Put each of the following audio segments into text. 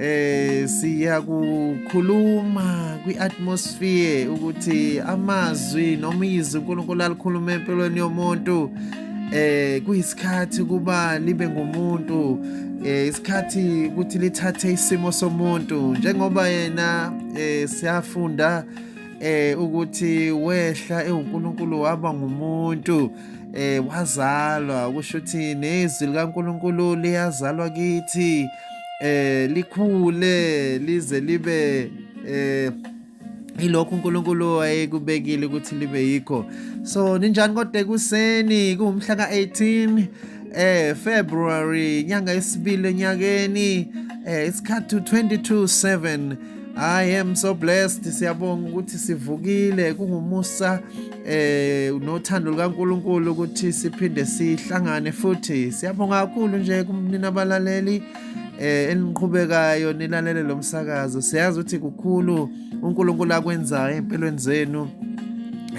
eh siyakukhuluma kwiatmosphere ukuthi amazwi noma izwi uNkulunkulu alikhuluma empilweni yomuntu eh kuyisikhathi kuba libe ngumuntu eh isikhathi ukuthi lithathe isimo somuntu njengoba yena eh siyafunda eh ukuthi wehla ewuNkulunkulu waba ngumuntu eh wazalwa kusho ukuthi nezwi likaNkuluNkulu liyazalwa kithi eh likhule lize libe eh ilokho uNkulunkulu wayekubekile ukuthi libe yikho so ninjani kodwa ekuseni kuwumhla ka18 eh February nyanga yesibili enyakeni eh isikhathi 22 7 I am so blessed siyabonga ukuthi sivukile kungumusa eh nothando lukaNkuluNkulu ukuthi siphinde sihlangane futhi siyabonga kakhulu nje kumnina abalaleli eh eniqhubekayo nilalele lomsakazo siyazi ukuthi kukhulu uNkulunkulu akwenzayo empilweni zenu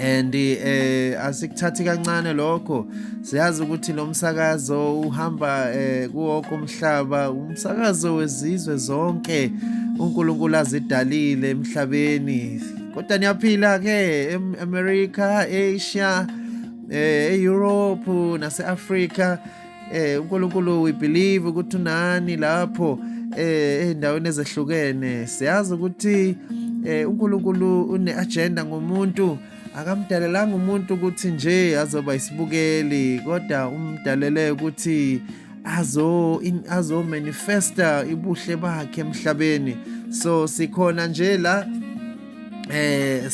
and eh asikuthathi kancane lokho siyazi ukuthi lo msakazo uhamba eh, kuwo komhlaba umsakazo wezizwe zonke uNkulunkulu azidalile emhlabeni kodwa niyaphila ke eAmerica Asia eh, eEurope naseAfrica eh uNkulunkulu we believe ukuthi unani lapho eh endaweni ezehlukene siyazi ukuthi eh uNkulunkulu une agenda ngomuntu akamdalelanga umuntu ukuthi nje azoba isibukeli kodwa umdalele ukuthi azo in, azo manifesta ibuhle bakhe emhlabeni so sikhona nje la eh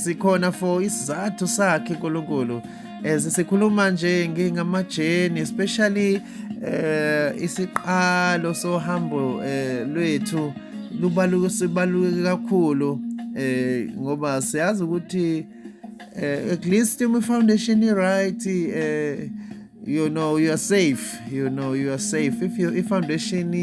sikhona for isizathu sakhe uNkulunkulu As eh, sikhuluma nje ngingamajeni especially eh isiqalo sohambo eh, lwethu lubaluke sibaluke kakhulu eh ngoba siyazi ukuthi eh, at least my foundation is right eh you know you are safe you know you are safe if your foundation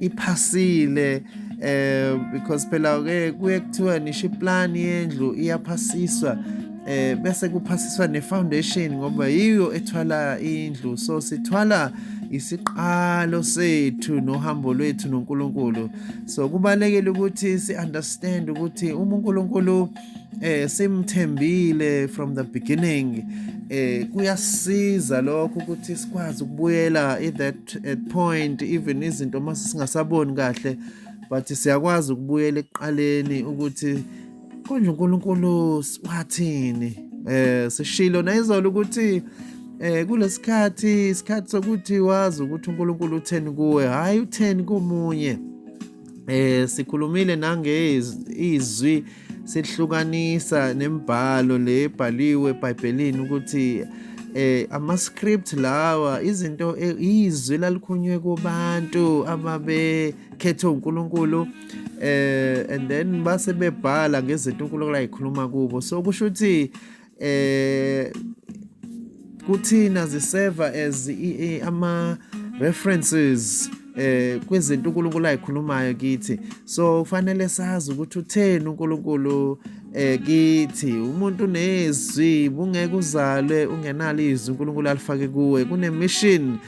iphasile eh because phela ke kuye kuthiwa nisho iplan yendlu iyaphasiswa eh bese kuphasiswa ne foundation ngoba yiyo ethwala indlu so sithwala isiqalo sethu nohambo lwethu noNkulunkulu so kubalekile ukuthi si understand ukuthi uma uNkulunkulu eh simthembile from the beginning eh kuyasiza lokho ukuthi sikwazi ukubuyela at that at point even izinto mase singasaboni kahle but siyakwazi ukubuyela ekuqaleni ukuthi Konje uNkulunkulu wathini? Eh sishilo nayizolo ukuthi eh kulesikhathi isikhathi sokuthi wazi ukuthi uNkulunkulu utheni kuwe hayi utheni komunye eh sikhulumile nange izwi sihlukanisa nemibhalo le ebhaliwe eBhayibhelini ukuthi eh ama script lawa izinto eh, izwi lalikhonywe kubantu ababe khethwe uNkulunkulu eh and then base bebhala ngezinto uNkulunkulu ayikhuluma kubo so kusho ukuthi eh kuthina ziseva as ama references eh kwezinto uNkulunkulu ayikhulumayo kithi so kufanele sazi ukuthi utheni uNkulunkulu eh kithi umuntu nezwi bungeke uzalwe ungenalo izwi uNkulunkulu alifake kuwe kune mission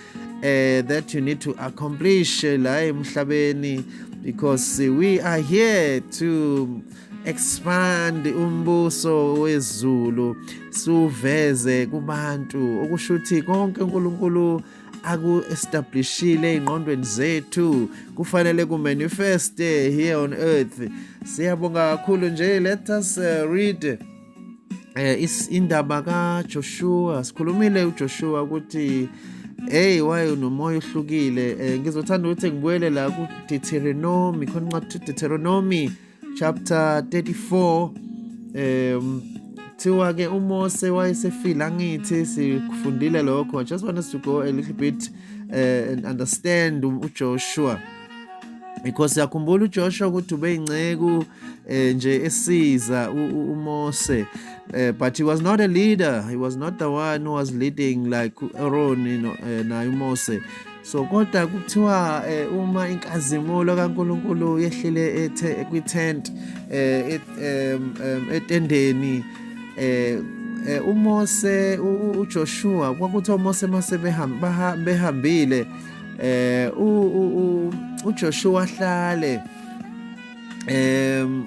eh that you need to accomplish la emhlabeni because we are here to expand umbuso wezulu suveze kubantu okusho ukuthi konke uNkulunkulu aku-establishile ey'ngqondweni zethu kufanele ku-manifeste here on earth siyabonga kakhulu nje let us uh, read eh indaba ka Joshua sikhulumile uJoshua ukuthi hey wayo nomoya ohlukile eh, ngizothanda ukuthi ngibuyele la ku Deuteronomy khona incwadi Deuteronomy chapter 34 um kuthiwa ke uMose wayesefile angithi sikufundile lokho just want us to go a little bit uh, and understand uJoshua because siyakhumbula uJoshua ukuthi ubeyinceku eh, nje esiza uMose eh, but he was not a leader he was not the one who was leading like Aaron you know, eh, naye uMose so kodwa kuthiwa eh, uma inkazimulo kaNkuluNkulu yehlile ethe kwitent eh, etendeni eh Eh, uMose uJoshua kwakuthi oMose mase behambile eh u uJoshua hlale em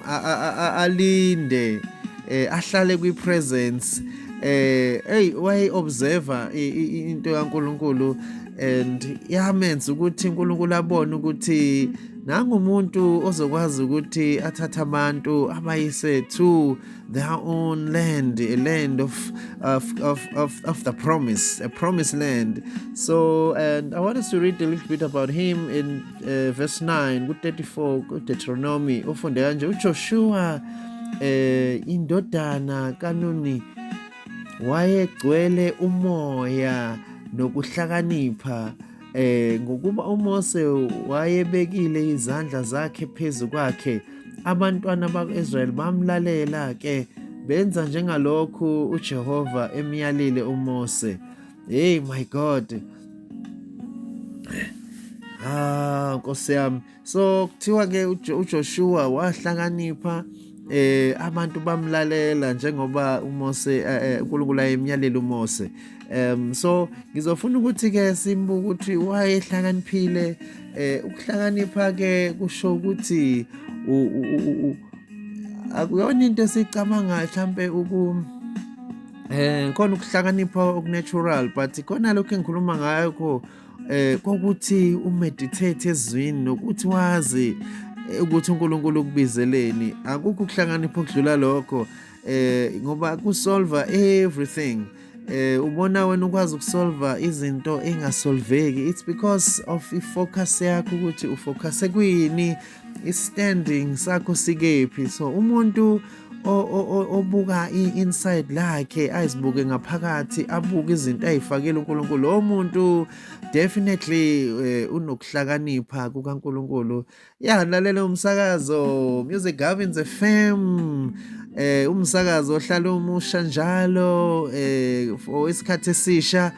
alinde eh, ahlale kwi presence eh hey way observer into kaNkuluNkulu and yamenza ukuthi uNkulunkulu abone ukuthi nangumuntu ozokwazi ukuthi athathe abantu abayise to their own land, a land of of, of, of, of the promise, a promised land. So, and I want us to read a little bit about him in uh, verse 9, good 34, good Deuteronomy. Ufunde kanje uJoshua eh indodana kanuni wayegcwele umoya nokuhlakanipha eh ngokuba uMose wayebekile izandla zakhe phezu kwakhe abantwana bakwa-Israyeli bamlalela ke benza njengalokhu uJehova emyalile uMose hey my god ah nkosi yami so kuthiwa ke uJoshua wahlakanipha eh abantu bamlalela njengoba uMose eh, eh, uNkulunkulu ayemyalela uMose um so ngizofuna ukuthi ke simbuke ukuthi wayehlakaniphile eh ukuhlakanipha ke kusho ukuthi akuyona into esicabanga mhlambe uku eh khona ukuhlakanipha okunatural but khona lokho engikhuluma ngakho eh kokuthi umeditate ezwini nokuthi wazi eh, ukuthi uNkulunkulu ukubizeleni akukho ukuhlakanipha okudlula lokho eh ngoba kusolva everything eh ubona wena ukwazi ukusolva izinto engasolveki it's because of ifocus yakho ukuthi ufocus kwini standing sakho sikephi so umuntu obuka i-inside lakhe azibuke ngaphakathi abuke izinto ayifakele uNkulunkulu lo muntu definitely eh, unokuhlakanipha kukaNkulunkulu ya lalela umsakazo Music Gavins FM eh umsakazo ohlala umusha njalo eh for isikhathi esisha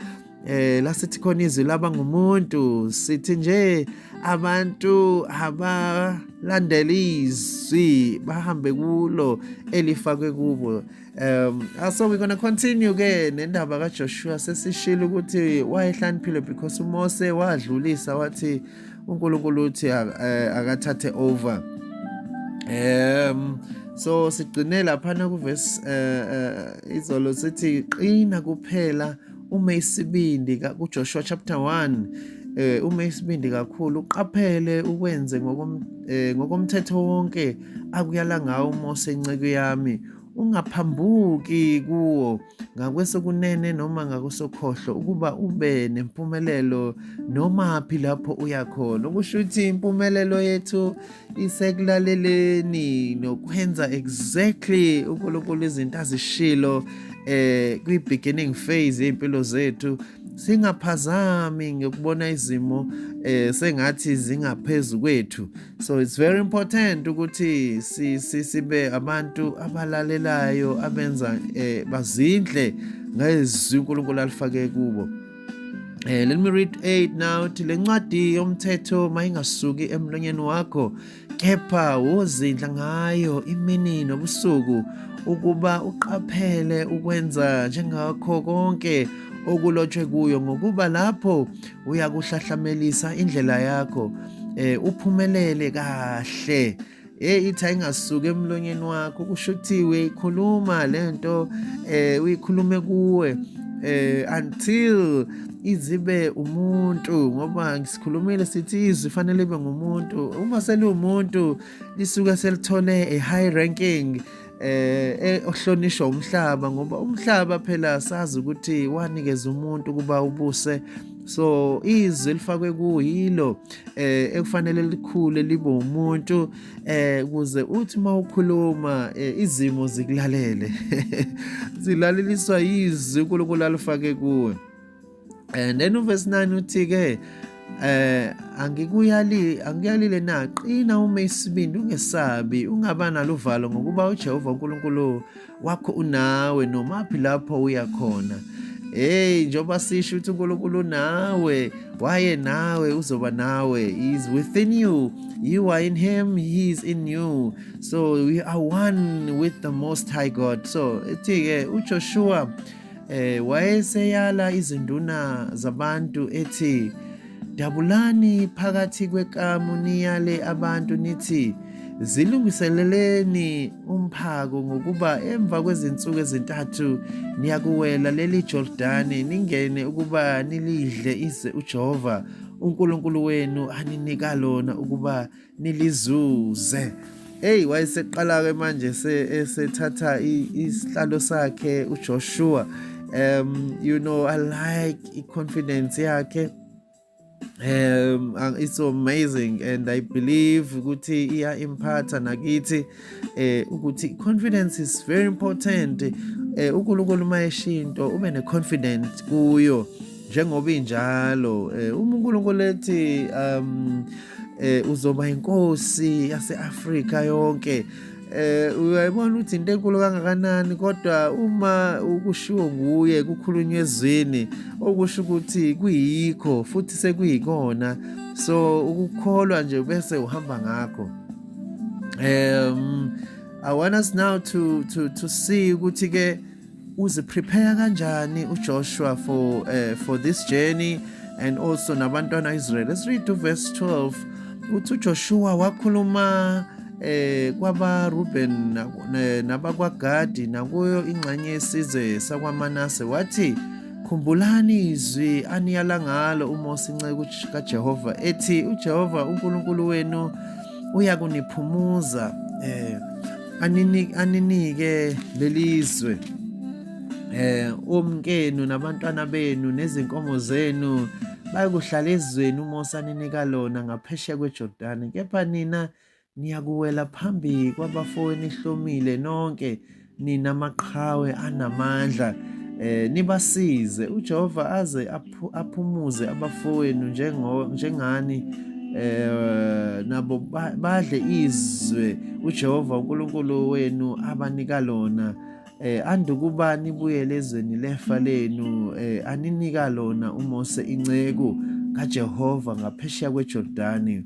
eh la sithi khona izwi laba ngumuntu sithi nje abantu abalandela izwi bahambe kulo elifakwe kubo um ah, so we're gonna continue ke nendaba kaJoshua sesishilo ukuthi wayehlaniphile because uMose wadlulisa wathi uNkulunkulu uthi eh, akathathe over um so sigcine lapha na kuverse uh, uh, izolo sithi qina kuphela uh, ume isibindi kuJoshua chapter 1 eh uma isibindi kakhulu uqaphele ukwenze eh, ngokomthetho wonke akuyala ngawo uMose inceke yami ungaphambuki kuwo ngakwesokunene noma ngakwesokhohlo ukuba ube nempumelelo noma phi lapho uya khona ukusho ukuthi impumelelo yethu isekulaleleni nokwenza exactly uNkulunkulu izinto azishilo eh kwi beginning phase impilo zethu singaphazami ngokubona izimo eh sengathi zingaphezulu kwethu so it's very important ukuthi sibe abantu abalalelayo abenza eh bazindle ngezwi uNkulunkulu alifake kubo Eh, let me read 8 now uthi le ncwadi yomthetho mayingasuki emlonyeni wakho kepha wozindla ngayo imini nobusuku ukuba uqaphele ukwenza njengakho konke okulotshwe kuyo ngokuba lapho uyakuhlahlamelisa indlela yakho eh uphumelele kahle Hey ithi ayingasuki emlonyeni wakho kusho ukuthi uyikhuluma lento eh uyikhulume kuwe eh until izibe umuntu ngoba ngisikhulumile sithi izwi fanele ibe ngumuntu uma seliwumuntu lisuke selithole a high ranking eh, eh ohlonishwa umhlaba ngoba umhlaba phela asazi ukuthi wanikeza umuntu kuba ubuse so izwi elifakwe kuyilo eh ekufanele likhule libe umuntu eh kuze uthi mawukhuluma eh, izimo zikulalele zilaleliswa izwi uNkulunkulu alifake kuwe and then uverse 9 uthi-ke eh angikuyali angiyalile na qina uma isibindi ungesabi ungaba naluvalo ngokuba uJehova uNkulunkulu wakho unawe nomaphi lapho uya khona hey njengoba sisho ukuthi uNkulunkulu nawe waye nawe uzoba nawe he is within you you are in him he is in you so we are one with the most high god so ethi-ke ujoshua Eh wayeseyala izinduna zabantu ethi dabulani phakathi kwekamu niyale abantu nithi zilungiseleleni umphako ngokuba emva kwezinsuku ezintathu niyakuwela leli Jordani ningene ukuba nilidle ize uJehova uNkulunkulu wenu aninika lona ukuba nilizuze eyi wayeseqala-ke manje esethatha isihlalo sakhe ujoshua um you know i like i-confidence yakhe um it's so amazing and i believe ukuthi iya-imphatha nakithi eh ukuthi confidence is very important eh uNkulunkulu uma eshinto ube ne confident kuyo njengoba injalo eh uma uNkulunkulu ethi um eh uzoba inkosi yaseAfrika yonke eh uyayibona ukuthi into enkulu kangakanani kodwa uma ukushiwo nguye kukhulunywa ezwini okusho ukuthi kuyikho futhi sekuyikona so ukukholwa nje bese uhamba ngakho um i want us now to to to see ukuthi ke uziprepare kanjani uJoshua for uh, for this journey and also nabantwana Israel let's read to verse 12 uthi uJoshua wakhuluma eh kwaba Ruben nabakwaGadi nakuyo ingxenye yesizwe sakwaManase wathi khumbulani izwi aniyala ngalo uMose inceku kaJehova ethi uJehova uNkulunkulu wenu uyakuniphumuza eh aninike aninike lelizwe eh omkenu nabantwana benu nezinkomo zenu bayokuhlala ezweni uMose aninika lona ngaphesheya kweJordani kepha nina niyakuwela phambi kwabafowenu ihlomile nonke nina maqhawe anamandla eh nibasize uJehova aze aphumuze abafowenu njengo njengani eh nabo badle izwe uJehova uNkulunkulu wenu abanika lona eh andukuba nibuyele ezweni lefa lenu eh aninika lona uMose inceku kaJehova ngaphesheya kweJordani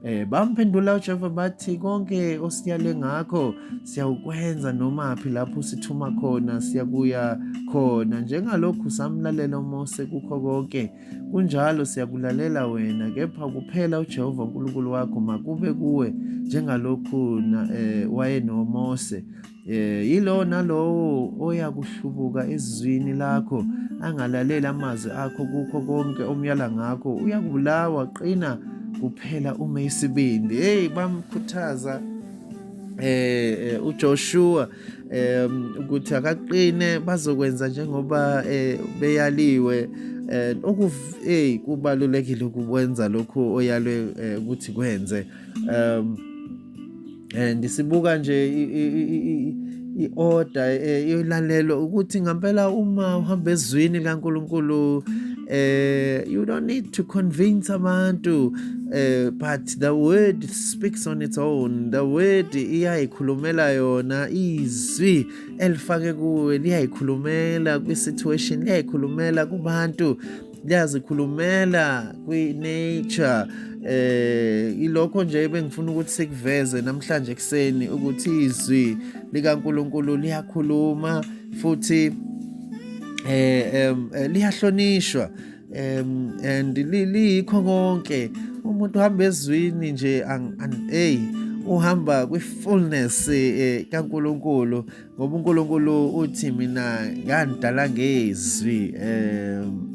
Eh bamphendula uJehova bathi konke osiyale ngakho siyawukwenza nomaphi lapho usithuma khona siyakuya khona njengalokhu samlalela uMose kukho konke kunjalo siyakulalela wena kepha kuphela uJehova uNkulunkulu wakho makube kuwe njengalokhu eh wayenoMose Eh yilo nalowo oyakuhlubuka ezizwini lakho angalalela amazwi akho kukho konke omyala ngakho uyakubulawa qina kuphela ume isibindi hey bamkhuthaza eh, eh uJoshua um ukuthi akaqine bazokwenza njengoba eh, beyaliwe eh okuv hey kubalulekile ukwenza lokho oyalwe eh, ukuthi kwenze um and sibuka nje i-order eh, iyolalelwa ukuthi ngampela uma uhamba ezwini likaNkulunkulu eh you don't need to convince abantu eh but the word speaks on its own the word iyayikhulumela yona izwi elifake kuwe liyayikhulumela kwi situation liyayikhulumela kubantu liyazikhulumela kwi-nature eh ilokho nje bengifuna ukuthi sikuveze namhlanje ekseni ukuthi izwi likaNkuluNkulu liyakhuluma futhi eh, eh liyahlonishwa um and liyikho konke umuntu uhamba ezwini nje hey uhamba kwi-fullness eh, kaNkuluNkulu ngoba uNkulunkulu uthi mina ngandidala ngezwi um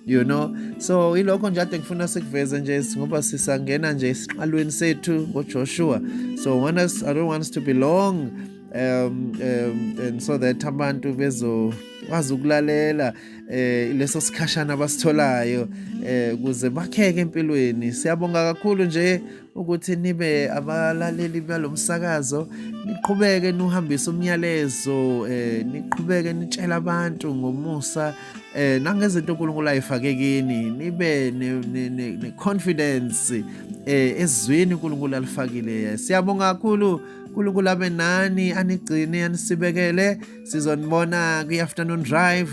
you know so ilokho nje ade ngifuna sikuveze nje ngoba sisangena nje esiqalweni sethu ngoJoshua so want us, I don't want us to be long um, um, and so that abantu bezo kwazi ukulalela eh leso sikhashana abasitholayo eh kuze bakheke empilweni siyabonga kakhulu nje ukuthi nibe abalaleli balo msakazo niqhubeke nuhambise umyalezo eh niqhubeke nitshela abantu ngomusa eh nangezinto uNkulunkulu ayifake kini nibe ne confidence eh ezwini uNkulunkulu alifakile siyabonga kakhulu uNkulunkulu abe nani anigcine anisibekele sizonibona kwi-afternoon drive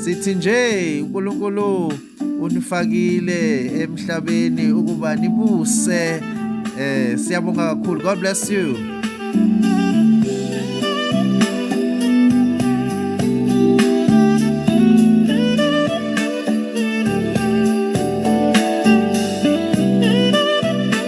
sithi nje unkulunkulu unifakile emhlabeni ukuba nibuse eh siyabonga kakhulu god bless you